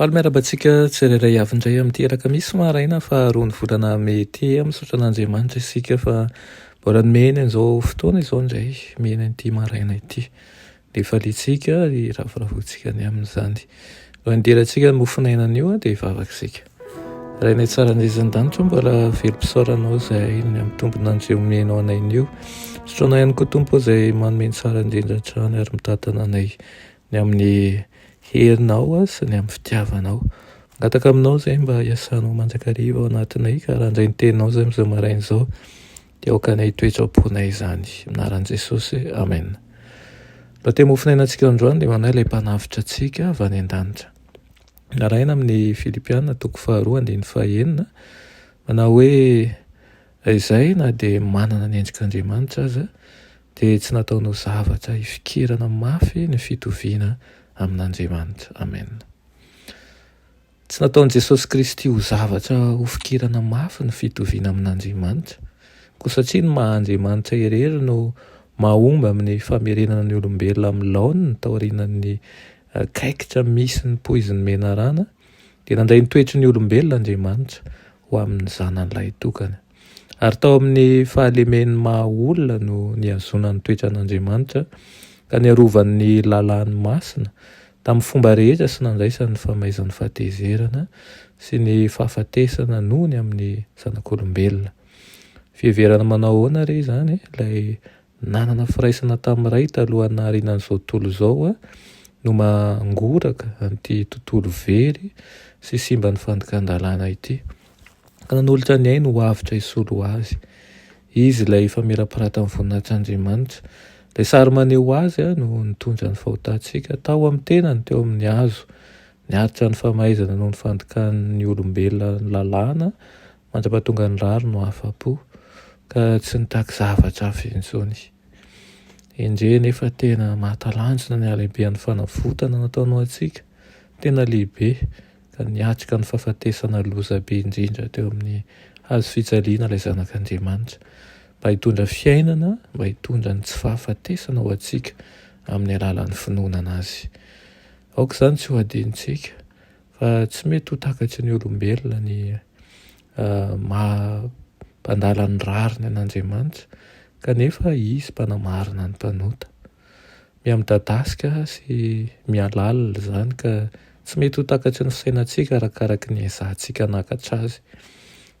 Faly miarahaba antsika tsirairay avy indray amin'ity alakamisy maraina faharoa ny volana mey ity. Misaotra an'Andriamanitra isika fa mbola nomeny an'izao fotoana izao indray mihena ity maraina ity. Ny faliantsika, ny ravoravoantsika ny amin'izany. No handirantsika ny mofon'aina anio dia vavaka isika. Rainay tsara an'izan-danitra mbola velom-pisaoranao izay ny amin'ny tombon'andry omenao anay anio. Sotroinay ihany koa tompo izay manome ny tsara indrindra hatrany ary mitantana anay Ny amin'ny herinao sy ny amin'ny fitiavanao. Mangataka aminao izay mba hiasanao mandrakariva ao anatinay ka raha handray ny teninao izay amin'izao maraina izao dia aoka anay hitoetra am-ponay izany. Anaran'i Jesosy, Amen. Mba te mofon'aina antsika androany dia manahy ilay mpanavotra antsika avy any an-danitra. Narahina amin'ny Filipiana toko faharoa andininy fahenina manao hoe Raha izay, na dia manana ny endrik'Andriamanitra aza, dia tsy nataony ho zavatra hifikirana mafy ny fitoviana amin'Andriamanitra. Amen. Tsy nataon'i Jesosy Kristy ho zavatra hofikirana mafy ny fitoviana amin'Andriamanitra, koa satria ny maha Andriamanitra irery no mahomby amin'ny famerenana ny olombelona amin'ny laoniny taorianan'ny kaikitra misy ny poizin'ny menarana, dia nandray ny toetry ny olombelona Andriamanitra ho amin'ny zanany lahitokana. Ary tao amin'ny fahalemen'ny maha olona no nihazonany ny toetran'Andriamanitra, ka niarovany ny lalàny masina tamin'ny fomba rehetra sy nandraisany ny famaizan'ny fahatezerana sy ny fahafatesana nony amin'ny zanak'olombelona. Fiheverana manao ahoana re izany ilay Nanana firaisana tamin'ny Ray talohan'ny naharianan'izao tontolo izao aho no mangoraka an'ity tontolo very sy simban'ny fandikan-dalàna ity, ka nanolotra ny ainy ho avotra hisolo azy. Izy ilay efa mirapiratan'ny voninahitr'Andriamanitra. Ilay sary maneho Azy no nitondra ny fahotantsika tao amin'ny tenany teo amin'ny hazo. Niaritra ny famaizana noho ny fandikan'ny olombelona ny lalàna Mandra-pahatonga ny rary no afa-po ka tsy nitaky zavatra hafa intsony. Endrey anefa tena mahatalanjona ny halehibehan'ny fanavotana nataony ho antsika, tena lehibe ka niatrika ny fahafatesana loza be indrindra teo amin'ny hazo fijaliana ilay Zanak'Andriamanitra mba hitondra fiainana, mba hitondra ny tsy fahafatesana ho antsika amin'ny alalan'ny finoana Azy. Aoka izany tsy ho adinontsika Fa tsy mety ho takatry ny olombelona ny maha mpandala ny rariny an'Andriamanitra kanefa Izy mpanamarina ny mpanota. Miha midadasika sy miha lalina izany ka tsy mety ho takatry ny fisainantsika arakaraky ny ezahantsika hanakatra Azy.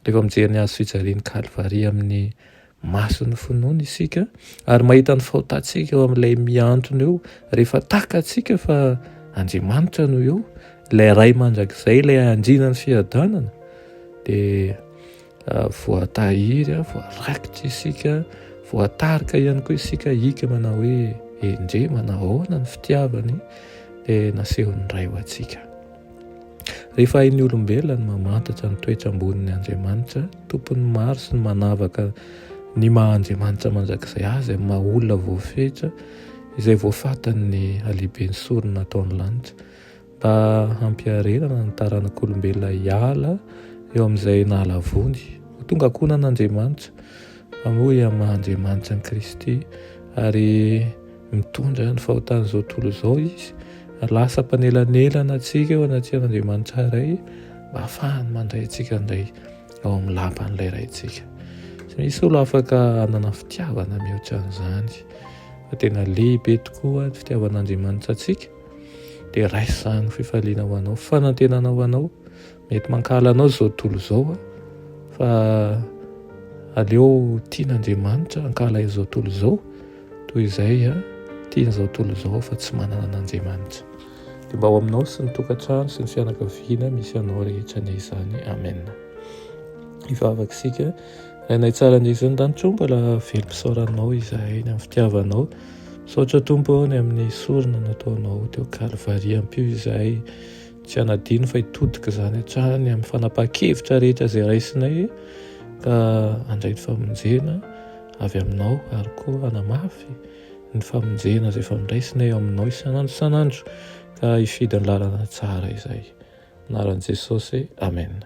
Rehefa mijery ny Hazo fijalian'i Kalvary amin'ny Masin'ny finoana isika ary mahita ny fahotantsika eo amin'ilay mihantona eo rehefa takatsika fa Andriamanitra no eo, ilay Ray mandrakizay, ilay andriana ny fiadanana dia ah, voatahiry, ah, voarakitra isika, voatarika ihany koa isika hika manao hoe endrey manao ahoana ny fitiavany dia nasehon'ny Ray ho antsika. Rehefa hain'ny olombelona ny mamantatra ny toetra ambonin'ny Andriamanitra, tompon'ny maro sy ny manavaka ny maha Andriamanitra mandrakizay azy amin'ny maha olona voafetra izay voafatan'ny halehiben'ny sorona ataon'ny lanitra mba hampiarenana ny taranak'olombelona hiala eo amin'izay nahalavoany ho tonga ankohonan'Andriamanitra amoy amin'ny maha Andriamanitra ny Kristy ary Mitondra ny fahotan'izao tontolo izao Izy. Lasa mpanelanelana antsika eo anatrehan'Andriamanitra iray mba hahafahany mandray antsika indray ao amin'ny lapan'ilay Raintsika. Tsy misy olo afaka hanana fitiavana mihoatra an'izany fa tena lehibe tokoa ny fitiavan'Andriamanitra antsika dia raiso izany fifaliana ho anao, fanantenana ho anao Mety mankahala anao izao tontolo izao a, fa aleo tiana Andriamanitra hankahala izao tontolo izao toy izay a tiana izao tontolo izao fa tsy manana an'Andriamanitra. Dia mba ho aminao sy ny tokantrano sy ny fianakaviana misy anao rehetra anie izany. Amen. Hivavaka isika. Rainay tsara ny ezin'ny danitro, mbola velom-pisaoranao izahay ny amin'ny fitiavanao. Misaotra Tompo ny amin'ny sorona nataonao teo Kalvary. Ampio izahay Tsy hanadino fa hitodika izany hatrany amin'ny fanapahan-kevitra rehetra izay raisinay ka handray ny famonjena avy aminao ary koa hanamafy ny famonjena izay efa niraisinay aminao isan'andro isan'andro ka hifidy ny lalana tsara izay. Anaran'i Jesosy, Amen.